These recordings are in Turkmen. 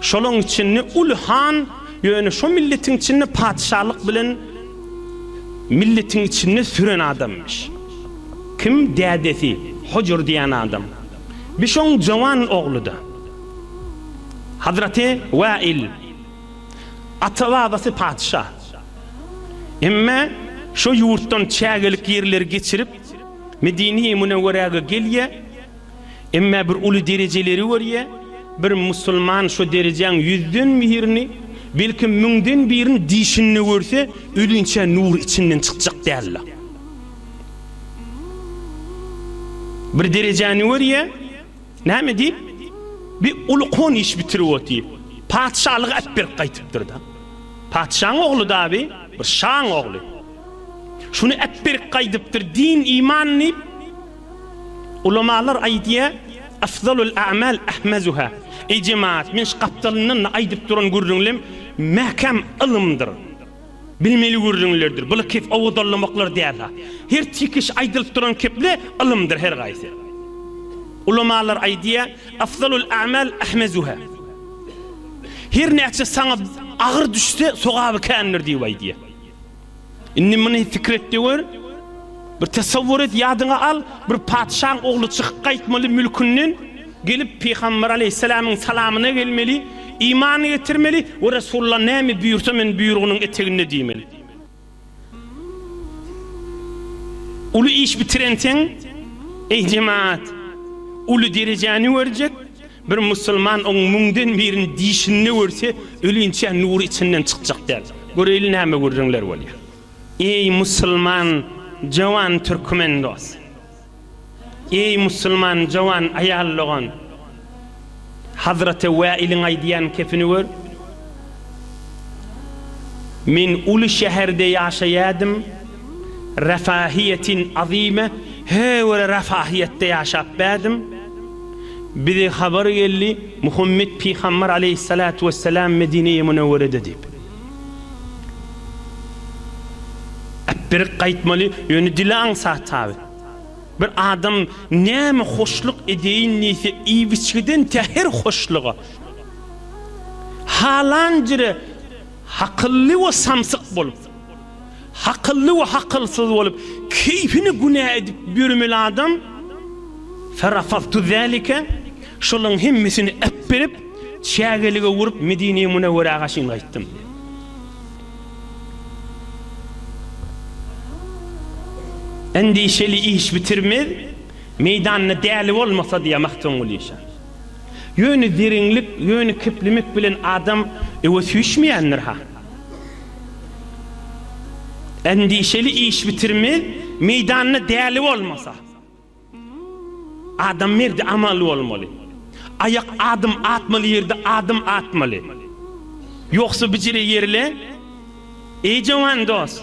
Şolaň içinde uly han, ýöne şo milletiň içinde patyşalyk bilen milletiň içinde süren adamymyş. Kim? Dädesi, Hojur diýen adam. Bi şoň jowan ogludy. Hazraty Wail. Ata-babasy patyşa. Emme şo ýurtdan çägelik ýerleri geçirip, Medini-Münewweräge gelýä. Emma bir uly derejeleri görýä, bir musulman şo derejäň ýüzden birini, belki müňden birini dişinde görse, ölinçä nur içinden çykjak däldi. Bir derejäni görýä, näme diýip, bir uly kon iş bitirip otyp, patyşalygy äp berip gaýtypdyr-da. Patyşaň ogly-da bi, bir şaň ogly. Şuny äp berip gaýdypdyr, din, iman diýip. Ulamalar aýdýar, Afzalul a'mal ahmazuha, Eý jemagat, men şu gapdalyndan-da aýdyp duran gürrüňlem mäkäm ylymdyr, bilmeli gürrüňlerdir, bular kep owadanlamaklar däl-ha. Her çekiş aýdylyp duran keple ylymdyr her gaýsy. Ulamalar aýdýar, Afzalul a'mal ahmazuha, Her näçe saňa agyr düşse, sogaby kändir diýip aýdýar. Indi muny pikir etde gör. Bir tesawwur et, ýadyňa al, bir patyşaň ogly çykyp gaýtmaly mülkünden, gelip Pygamber aleýhissalamyň salamyna gelmeli, iman getirmeli we Resulullah näme buýursa men buýrugynyň eteginde diýmeli. Uly iş bitirenseň, eý jemagat, uly derejäni görjek, Bir musulman oň müňden birini dişinde görse, ölinçä nury içinden çykjak däl. Göreýli näme gürrüňler bolýar. Eý musulman jowan türkmen dos! Eý musulman jowan aýal dogan! Hazraty Wäiliň aýdýan kepini gör. Men uly şäherde ýaşaýadym. Refahiýetin azime he göre refahiýetde ýaşap bärdim. Bize habar geldi, Muhammet pygambar aleýhissalatu wessalam Medineye Münewwerede diýip. Äpberik gaýtmaly, ýöne dili aňsat taby. Bir adam näme hoşluk edeýin diýse, iýip-içgiden tä her hoşluga. Halan jire hakylly we samsyk bolup. Hakylly we hakylsyz bolup, keýpini günä edip ýörmeli adam, Ferafaztu zalike, şolaryň hemmesini äpberip, çägelige urup, Medine-i Münewwerege çyn gaýtdym diýýär. Endişeli iş bitirmez, meýdanda däli bolmasa diýýär Magtymguly şa. Ýöne zeriňlik, ýöne keplemek bilen adam öwe süýşmeýändir-ha. Endişeli iş bitirme meýdanda däli bolmasa. Adam merdi amaly bolmaly. Aýak adym atmaly ýerde adym atmaly. Ýogsa bijire ýerle. Eý jowan dos.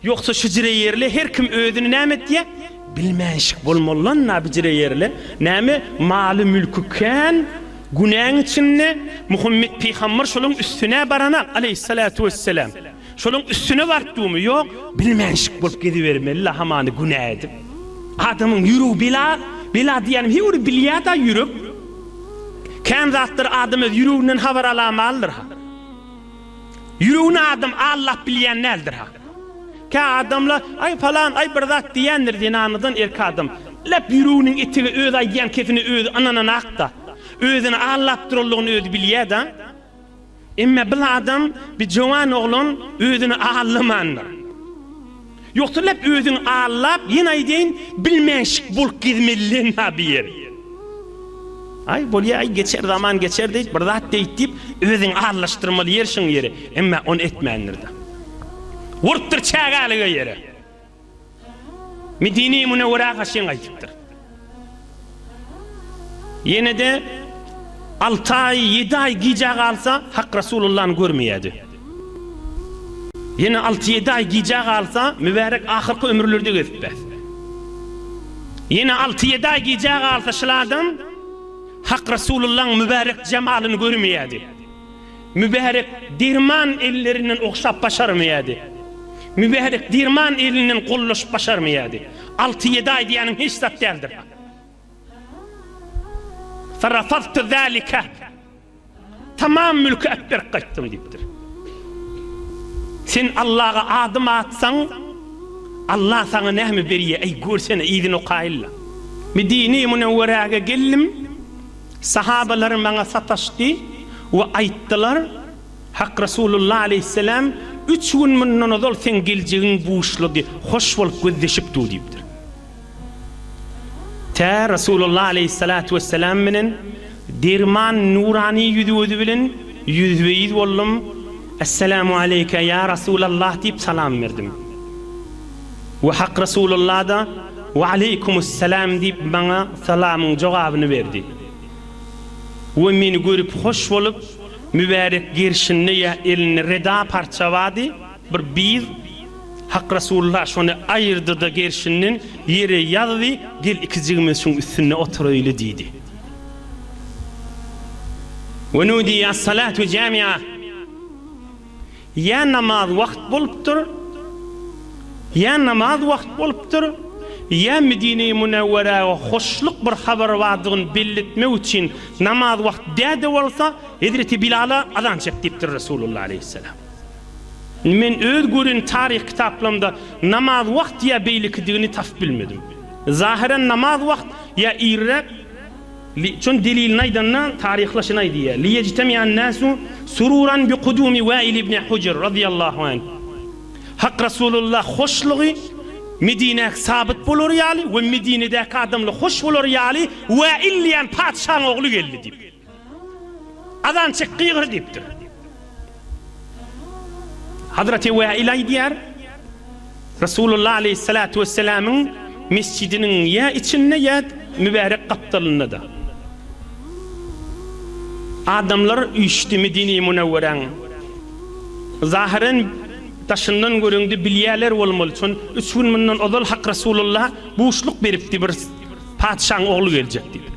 Ýogsa şüjreýerli her kim özüni näme etýä? Bilmänşik bolmalylanna bijreýerli näme maly mülki kän günäň içinde Muhammet pygamber şoluň üstünä barana aleýhissalatu wesselam şoluň üstüne bartdumy ýok bilmänşik bolup gezibermelila hamany günä edip adamyň ýüregi bela bela diýýänim he ony bilýäda ýürek kän zatlar adam öz ýüreginden habar alamalydyr ha. Ýüregini adam allap bilýän däldir ha. Kä adamlar, aý palan, aý bir zat diýýändir zenanadan erki adam. Lep ýüreginiň etigi öz aýdýan kepini özi ynananakda. Özüni allap duranlygyny özi bilýäda. Emme bil adam, bi jowan oglan özüni allamandyr. Ýogsa läp özüň allap ýene aýdaýyn bilmänşik bolup gezmelilenha bir ýeri. Aý bolýaý geçer zaman geçer diýip bir zat deýt diýip özüň allaşdyrmaly ýer şuň ýeri emmä ony etmändirda. Urupdyr çägälige ýere. Medine-i Münewwerä haşyň aýdypdyr. Ýene-de alty aý, ýedi aý gijä galsa, Hak Rasulullany görmeýärdi. Ýene alty-ýedi aý gijä galsa, Mübärek ahyrky ömürleri-de gezip bes. Ýene alty-ýedi aý gijä galsa şyladan Hak Rasulullaň mübärek jemalyny görmeýärdi. Mübärek derman ellerinden ogşap başarmaýardy. Mübärek derman elinden gollaşyp başarmaýardy. Alty-ýedi aý diýýänim hiç zat däldir. Farafaztu zalika. Tamam mülki äp berip gaýtdym diýipdir. Sen Allaga adym atsaň, Allah saňa näme berýär, äý görsene, yzyny okaýyl-la. Medinä-i Münewweräge geldim. Sahabalar maňa sataşdy we aýtdylar, Hak Resulullah aleýhisselam üç gün mundan ozal seň geljegiňi buşlady, hoş bolup gözleşip dur diýipdir. Tä Resulullah aleýhissalatu wesselam bilen derman nurany ýüz-gözi bilen ýüzbe-ýüz boldum, Essalamu aleýke ýa Resulallah diýip salam berdim. We Hak Resulullah-da, We aleýkumussalam diýip maňa salamyň jogabyny berdi. We meni görüp hoş bolup, mübärek gerşinde ýa elinde reda parça bardy, bir biz, Hak Resulullah şony aýyrdy-da gerşinden ýere ýazdy, Gel ikijigimiz şuň üstünde oturaýly diýdi. We nudiýe as-salatu jami'a. Ýa namaz wagt bolupdyr, ýa namaz wagt bolupdyr, ýa Medine-i Münewweräge hoşluk bir habar bardygyny belli etmek üçin namaz wagt dä-de bolsa, hezreti Bilala azan çek diýipdir Resulullah aleýhisselam. Indi men öz gören taryh kitaplarymda namaz wagt ýa beýlekidigini tapyp bilmedim. Zahyran namaz wagt ýa irräk, Li, şony delilini aýdanda, taryhla şunaý diýýär, Li ýejtemi'an-näsu sururan bi kudumi Wäil ibni Hujr, razyýallahu anh, Hak Rasulullah hoşlugy Medinä sabyt bolary ýaly we Medinedäki adamlar hoş bolary ýaly Wäil diýýän patyşaň ogly geldi diýip. Azan çek gygyr diýipdir. Hazreti Wäil aýdýar, Resulullah aleyhissalatu vesselamyň mesjidiniň ýa içinde ýa mübärek gapdalynda-da. Adamlar üýşdi Medine-i Münewweräň. Zahyren daşyndan göreňde bilýärler bolmaly, çün üç gün mundan ozal Hak Resulullah buşluk beripdi bir patyşaň ogly geljek diýip.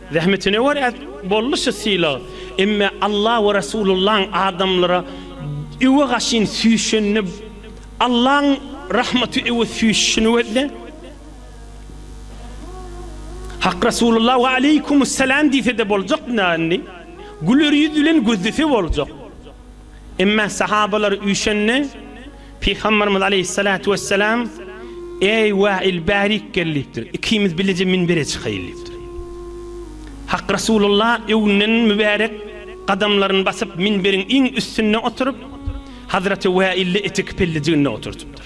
Zähmetine görä boldy şu sylag. Emme Alla we Resulullaň adamlara öwe gaşyn süýşenini Allaň rahmaty öwe süýşüşini gözle. Hak Resulullah we aleýkumussalam diýsede boljak nä indi. Güler ýüz bilen gözlese boljak. Emma sahabalar üýşende, Pygamberimiz aleýhissalatu wessalam, Eý, Wail, bärik gel diýipdir. Ikimiz bileje minbere çykaýyl diýipdir. Hak Resulullah öňden mübärek gadamlaryny basyp, minberiň iň üstünde oturyp, Hazreti Waildi eteki pellijiginde oturtypdyr.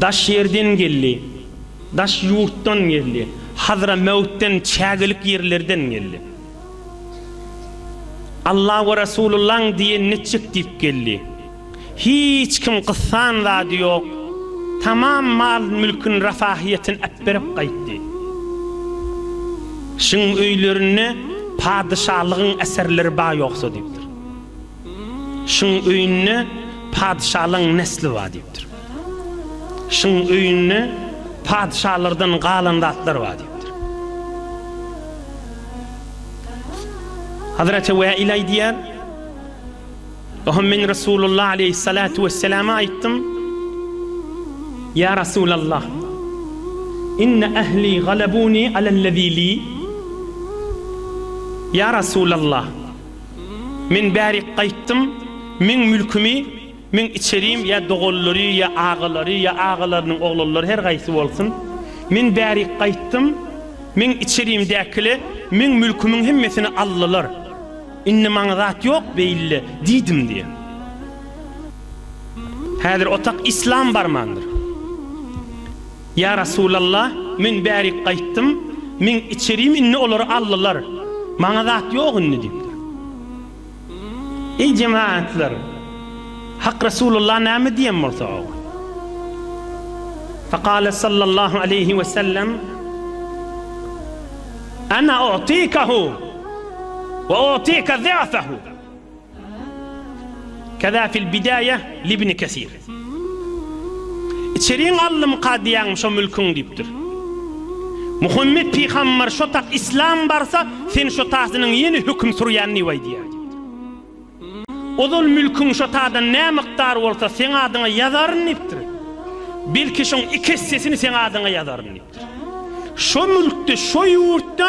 Daş ýerden geldi, daş ýurtdan geldi, Hadramäwtden, çägelik ýerlerden geldi. Alla we Resulullaň diýenini etjek diýip geldi. Hiç kim gyssan zady ýok, tamam mal-mülküni refahyýetini äpberip gaýtdy. Şiň öýlerinde padyşalygyň eserleri ba ýoksa diýipdir. Şuň öýünde patyşalaň nesli bar diýipdir. Şuň öýünde patyşalardan galan zatlar bar diýipdir. Hazreti Wäil aýdýar, Ohm men Resulullah aleýhissalatu wesselama aýtdym, Ýa Resulallah, inne ähli galabuni alellezili, Ýa Resulallah, Men bärik gaýtdym, meň mülkümi, meň içerim ýa doganlary ýa agalary ýa agalarynyň oglanlary her gaýsy bolsun, men bärik gaýtdym, meň içerimdäkile meň mülkümiň hemmesini aldylar. Indi maňa zat ýok beýle diýdim diýen. Häzir otak islam barmandyr. Ýa Resulalla, men bärik gaýtdym, meň içerim indi olary aldylar, maňa zat ýok indi diýipdir. Eý jemagatlar, Hak Resulalla näme diýen bolsa oňa? Fekale sallallahu aleýhi we sellem, Ana u'tikahu we u'tika za'fahu. Keza fil bidaýe libni kesir. Içeriň allym kadyýaňmy şo mülküň diýipdir. Muhammet pygambar şo tak islam barsa sen şo tasynyň ýene höküm sürýän diýip aýdýar diýipdir. Ozal mülküň şo tadan nä mykdar bolsa seň adyňa ýazaryn diýipdir. Belki şoň iki essesini seň adyňa ýazaryn diýipdir. Şo mülkde şo ýurtda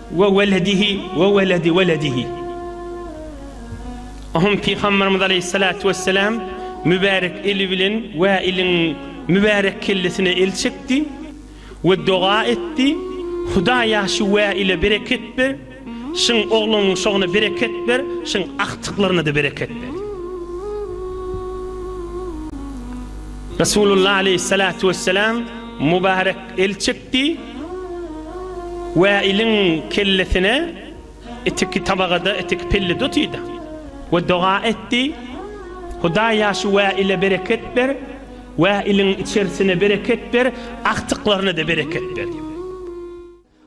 We weledihi we weledi weledihi. Ohuň Pygamberimiz aleýhissalatu wesselam mübärek eli bilen Wäiliň mübärek kellesine el çekdi we doga etdi, Hudaýa şu Wäile bereket ber, şyň ogluň şogna bereket ber, şyň agtyklaryna-da bereket ber. Resulullah aleýhissalatu wesselam mübärek El çekdi we iliň kellesine itiki tabagada itiki pelle dutýda we doga etdi, Hudaý ýaşy we ile bereket ber we iliň içerisine bereket ber, agtyklaryna-da bereket ber diýip.